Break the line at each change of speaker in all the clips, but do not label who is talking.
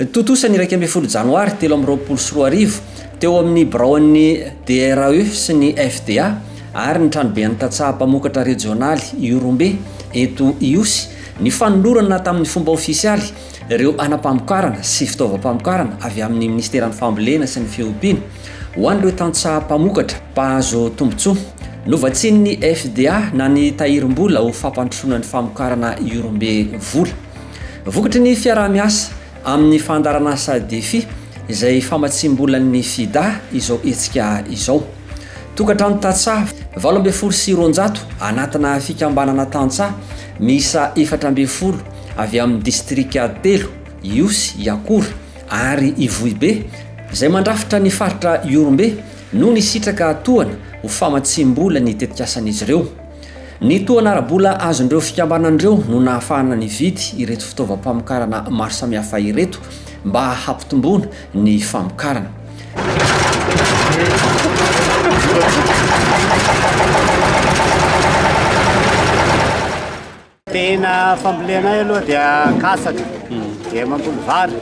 Tontosa ny iraika ambin'ny folo janoary telo amby roapolo sy roa arivo, teo amin'ny biraon'ny DRAE sy ny FDA ary ny tranoben'ny tantsaha mpamokatra rejionaly Ihorombe eto Ihosy, ny fanolorana tamin'ny fomba ofisialy ireo hanam-pamokarana sy fitaovam-pamokarana avy amin'ny Minisiteran'ny Fambolena sy ny Fiompiana ho an'ireo tantsaha mpamokatra mpahazo tombontsoa. Novatsian'ny FDA na ny tahirim-bola ho fampandrosoana ny famokarana Iorombe vola. Vokatry ny fiaraha-miasa amin'ny fandaharanasa Defi izay famatsiam-bolan'ny Fida izao hetsika izao. Tokantrano tantsaha valo ambin'ny folo sy roanjato anatina fikambanana tantsaha miisa efatra ambin'ny folo avy amin'ny distrika telo, Ihosy, Iakora ary Ivohibe, izay mandrafitra ny faritra Ihorombe no nisitraka tohana ho famatsiam-bola ny tetikasan'izy ireo. Ny tohana ara-bola azon'ireo fikambanana ireo no nahafahana nividy ireto fitaovam-pamokarana maro samihafa ireto mba hampitomboana ny famokarana.
Tena fambolena ahy aloha dia katsaka, dia mamboly vary.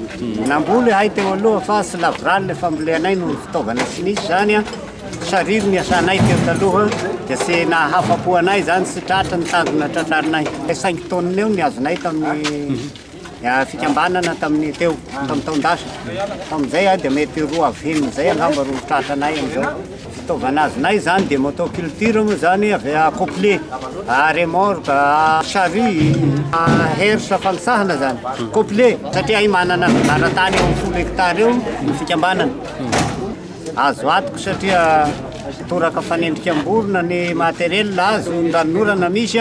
Namboly ahay teo aloha fa tsy lavorary ilay fambolenay noho ny fitaovana tsy nisy izany. Sariry ny asanay teo taloha dia tsy nahafa-po anay izany, tsy tratra ny tanjona tratrarinay. Cinq tonnes eo ny azonay tamin'ny fikambanana tamin'ny teo tamin'ny taon-dasa tamin'izay dia mety roa avy enina izay angamba roa tratra anay amin'izao fitaovana azonay izany dia motoculture moa izany avy accoupler remorque charrue herse fanosahana izany coupler satria ahy manana laratany eo amin'ny folo hectare eo ny fikambanana azo atoko satria toraka fanendrika am-borona ny matériel azo ny ranonorana misy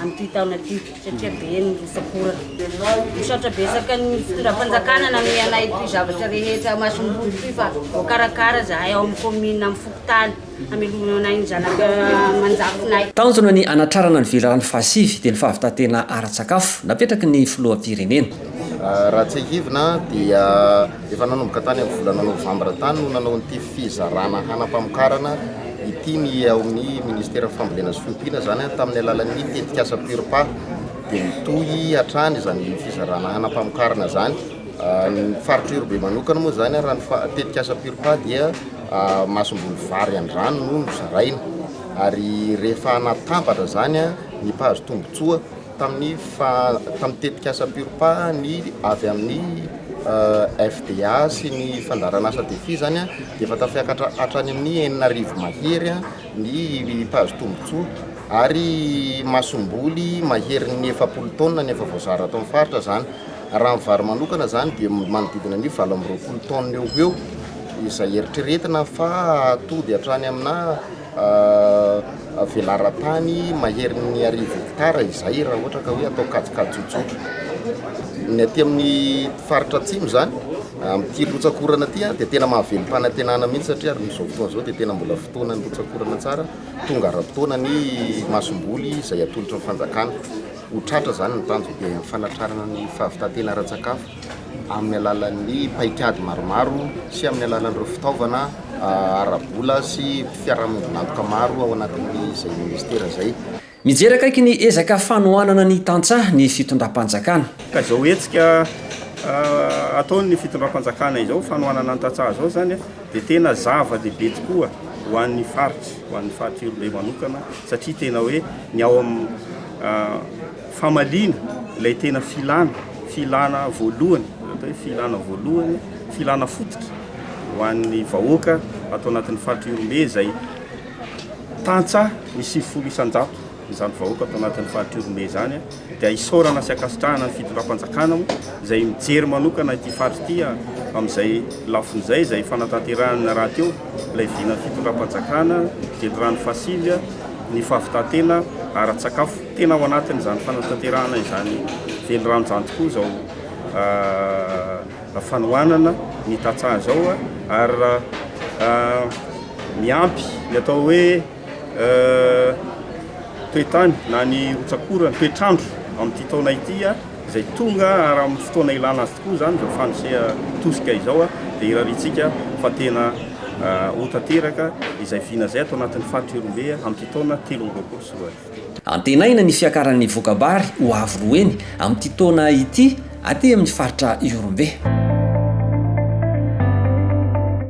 amin'ity taona ity satria be ny rotsak'ora. Misaotra betsaka ny fitondram-panjakana nanome anay ity zavatra rehetra masom-boly ity fa voakarakara izahay ao amin'ny kaominina amin'ny fokontany hamelomana anay ny zanaka aman-jafinay. Tanjona ny
hanatrarana ny velirano fahasivy dia ny fahavitantena ara-tsakafo napetraky ny filoham-pirenena. Raha
tsiahivina dia Efa nanomboka tany amin'ny volana novambra tany no nanao an'ity fizarana hanam-pamokarana ity ny ao amin'ny ministeran'ny fambolena sy fiompiana, izany tamin'ny alalan'ny tetikasa Purpa. Dia mitohy hatrany izany fizarana hanam-pamokarana izany. Ny faritra Irobe manokana moa izany raha ny tetikasa Purpa dia masomboly vary an-drano no nozaraina ary rehefa natambatra izany ny mpahazo tombontsoa tamin'ny faha tamin'ny tetikasa Purpa ny avy amin'ny FDA sy ny fandaharan'asa Defi izany dia efa tafiakatra hatrany amin'ny enina arivo mahery ny mpahazo tombontsoa ary masomboly maherin'ny efapolo taonina no efa voazara ato amin'ny faritra izany. Raha ny vary manokana izany dia manodidina ny valo amby roapolo taonina eo ho eo izay eritreretina fa hahatoby hatrany amina Velaran-tany maherin'ny arivo hektara izay raha ohatra ka hoe atao kajikajy tsotra. Ny aty amin'ny faritra atsimo izany, amin'ity rotsak'orana ity dia tena mahavelom-panantenana mihitsy satria ary amin'izao fotoana izao dia tena mbola fotoanan'ny rotsak'orana tsara, tonga ara-potoana ny masomboly izay atolotra ny fanjakana. Ho tratra izany ny tanjona dia ny fanatrarana ny fahavitantena ara-tsakafo. amin'ny alalan'ny paikady maromaro sy amin'ny alalan'ireo fitaovana ara-bola sy fiarahamoninakoka maro ao anatin'izay ministera izay. Mijery akaiky ny
ezaka fanohanana ny tantsaha ny fitondram-panjakana. Ka izao hetsika
ataon'ny fitondram-panjakana izao, fanohanana ny tantsaha izao izany dia tena zava-dehibe tokoa ho an'ny faritra, ho an'ny faritra Iorolay manokana satria tena hoe ny ao amin'ny Famaliana ilay tena filana, filana voalohany, izay atao hoe filana voalohany, filana fototra ho an'ny vahoaka ato anatin'ny faritra Ihorombe izay tantsaha ny sivifolo isan-jato izany vahoaka ato anatin'ny faritra Ihorombe izany dia isaorana sy ankasitrahana ny fitondram-panjakana moa izay mijery manokana ity faritra ity amin'izay lafiny izay izay fanatanterahana rahateo ilay vinan'ny fitondram-panjakana Jendrano Fasilya ny fahavitan-tena ara-tsakafo Tena ao anatin'izany fanatanterahana izany velirano izany tokoa izao fanohanana ny tantsaha izao ary miampy ny atao hoe toetany na ny rotsak'orana, toetr'andro amin'ity taona ity izay tonga ary amin'ny fotoana ilana azy tokoa izany izao fandrisiha tosika izao dia irariantsika fa tena ho tanteraka izay vina izay ato anatin'ny faritra Ihorombe amin'ity taona telo amby roapolo sy roa arivo. Antenaina ny
fiakaran'ny voka-bary ho avo roa heny amin'ity taona ity aty amin'ny faritra Ihorombe.